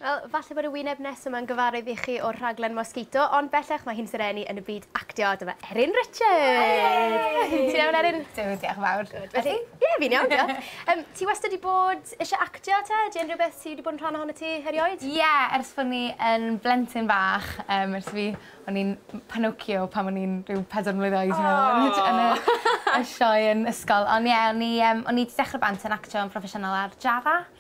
Wel, falle bod y wyneb nesaf yma'n gyfarwydd i chi o'r rhaglen Mosquito, ond bellach mae hi'n serennu yn y byd actio. Dyma Erin Richards! Ti'n iawn, Erin? Dw, diolch yn fawr. Good. A ti? Ie, fi'n iawn, diolch. Um, ti wastad wedi bod eisiau actio, te? Ydy unrhyw beth ti wedi bod yn rhan ohono ti erioed? Ie, yeah, ers bod ni yn blentyn bach, um, ers fi, o'n i'n Pinocchio pan o'n i'n rhyw pedwar mlynedd oed, oh. yn y, y sioe yn ysgol. Ond ie, yeah, o'n i, um, o'n i wedi dechrau bant yn actio yn proffesiynol ar Jara.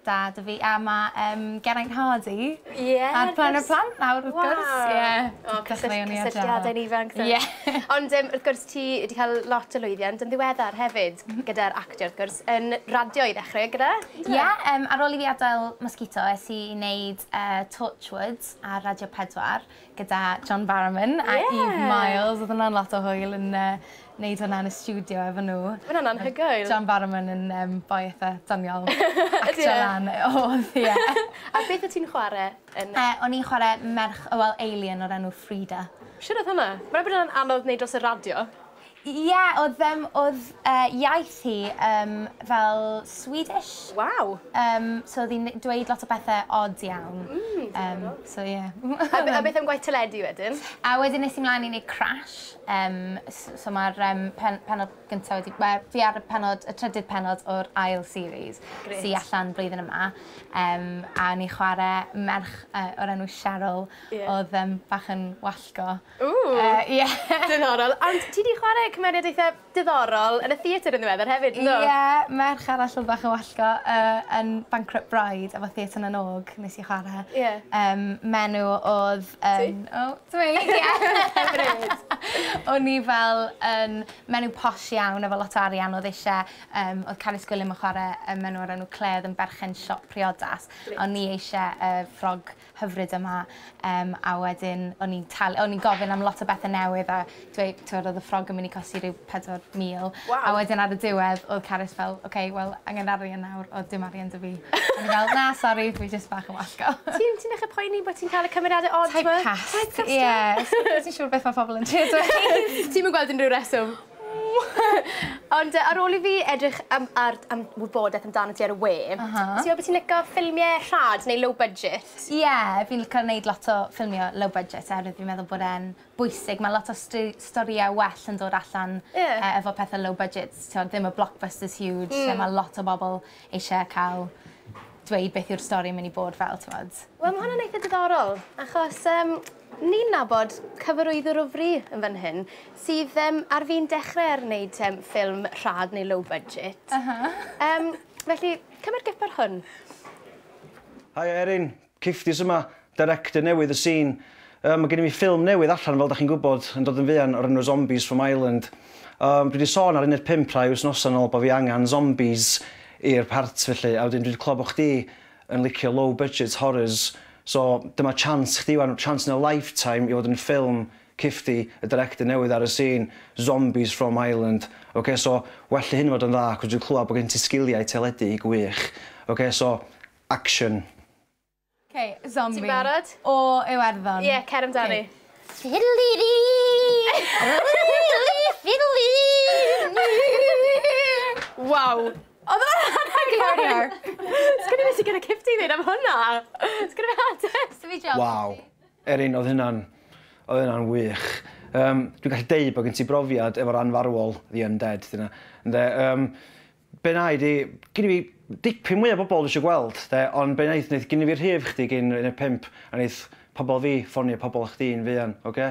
Dad a fi a ma yym Geraint Hardy. Ie. Ar Plan y Plant nawr wrth gwrs. Waw. Ie. O cysyll- cysylltiade yn ifanc 'te. Ie. Ond yym wrth gwrs ti 'di ca'l lot o lwyddiant yn ddiweddar hefyd gyda'r actio wrth gwrs yn radio i ddechre gyda? On'd yfe? Ie yym ar ôl i fi adael Mosquito es i i neud yy Torchwood ar Radio Pedwar gyda John Barrowman a Eve Myles. Odd wnna'n lot o hwyl yn yy neud hwnna yn y stiwdio efo n'w. Ma' wnna'n anhygoel. Odd John Barrowman yn yym boi itha doniol. Ydi e? Actio lan yy odd ie. A beth o' ti'n chware yn yy... Yy o'n i'n chware merch yy wel alien o'r enw Frida. Shwd odd hwnna? Mae'n gwbo bod wnna'n anodd neud dros y radio. Ie, odd yym odd yy iaith hi yym fel Swedish. Waw! Yym so odd 'i'n dweud lot o bethe od iawn. Mm, diddorol. Yym so ie. A be- a beth am gwaith teledu wedyn? A wedyn es i mlan i neud Crash yym s- so ma'r yym pen- pennod gynta wedi ma' fi ar y pennod y trydydd pennod o'r ail series. Grêt. Sy allan blwyddyn yma yym a o'n i chware merch yy o'r enw Cheryl. Ie. Odd yym bach yn wallgo. Ww! Yy ie. Diddorol. Ond ti 'di chware cymeriad eitha diddorol yn y theatr yn ddiweddar hefyd do? Ie, merch arall odd bach yn wallgo yy yn Bankrupt Bride efo Theatr na n-Og nes i chware. Ie. Yym m'enw odd yym... Ti? ...o ti myn' i Hyfryd. O'n i fel yn menyw posh iawn efo lot o arian odd eisie yym odd Carys Gwilym yn chware yym menyw o'r enw Clare odd yn berchen siop priodas. Grêt. A o'n i eisie yy ffrog hyfryd yma yym a wedyn o'n i'n tal- o'n i'n gofyn am lot o bethe newydd a dweu- t'wod odd y ffrog yn myn' i costi ryw pedwar mil. Waw. A wedyn ar y diwedd odd Carys fel oce wel angen arian nawr o dim arian 'da fi. O'n i fel na sori fi jyst bach yn wallgo. Ti'n ti'n dechre poeni bo' ti'n ca'l y cymeriade od t'mo'? Typecast. Ie. Typecast ie. Fi jys yn siŵr beth ma' pobol yn trio dweud. Ti'm yn gweld unryw reswm? Ond yy ar ôl i fi edrych yym ar d- am wybodaeth amdanat ti ar y we... Ah ha. ...ti me'wl bo' ti'n lico ffilmie rhad neu low budget? Ie fi'n lico neud lot o ffilmio low budget oherwydd fi'n meddwl bod e'n bwysig ma' lot o st- storie well yn dod allan... Ie. ...yy efo pethe low budget t'od ddim y blockbusters huge... Hmm. ...lle ma' lot o bobol eisie ca'l dweud beth yw'r stori myn' i bod fel t'mod. Wel ma' hwnna'n eitha diddorol achos yym Ni'n nabod cyfarwyddwr o fri yn fan hyn sydd yym ar fin dechre ar wneud yym ffilm rhad neu low budget. Aha. Yym felly cymryd gip ar hwn. Haia Erin, Kifties yma, director newydd y sîn. Yy ma' gennym ni ffilm newydd allan fel 'dach chi'n gwybod yn dod yn fuan o'r enw Zombies from Ireland. Yym dwi 'di sôn ar Uned Pump rhai wythnosa nôl bo' fi angan zombies i'r part felly a wedyn dwi 'di clywed bo' chdi yn licio low budget horrors so dyma chance chdi wan, chance in a lifetime i fod yn ffilm Kifty, y director newydd ar y scene, zombies from Ireland ok so well i hyn fod yn dda cos dwi'n clywed bod gen ti sgiliau teledu gwych ok so action. Ok, zombie. Ti'n barod? O Iwerddon. Ie, cer amdani. Fiddly-dee! Fiddly-dee! Waw! Oedd o'n anhygoel! Sorry Hark. Sgen i be' sy gyda Kifty i ddeud am hwnna! Sgen i be' arall 'da fi? Waw. Erin, oedd hynna'n, oedd hynna'n wych. Yym, dwi'n gallu deud bod gen ti brofiad efo'r anfarwol, the undead, dyna, ynde? Yym, be' wna i ydi, gynna fi dipyn mwy o bobl dwi isio gweld, de, ond be' wneith, wneith gynna fi rhif chdi gyn un o'r pump, a wneith pobl fi ffonio pobl chdi yn fuan, ocê?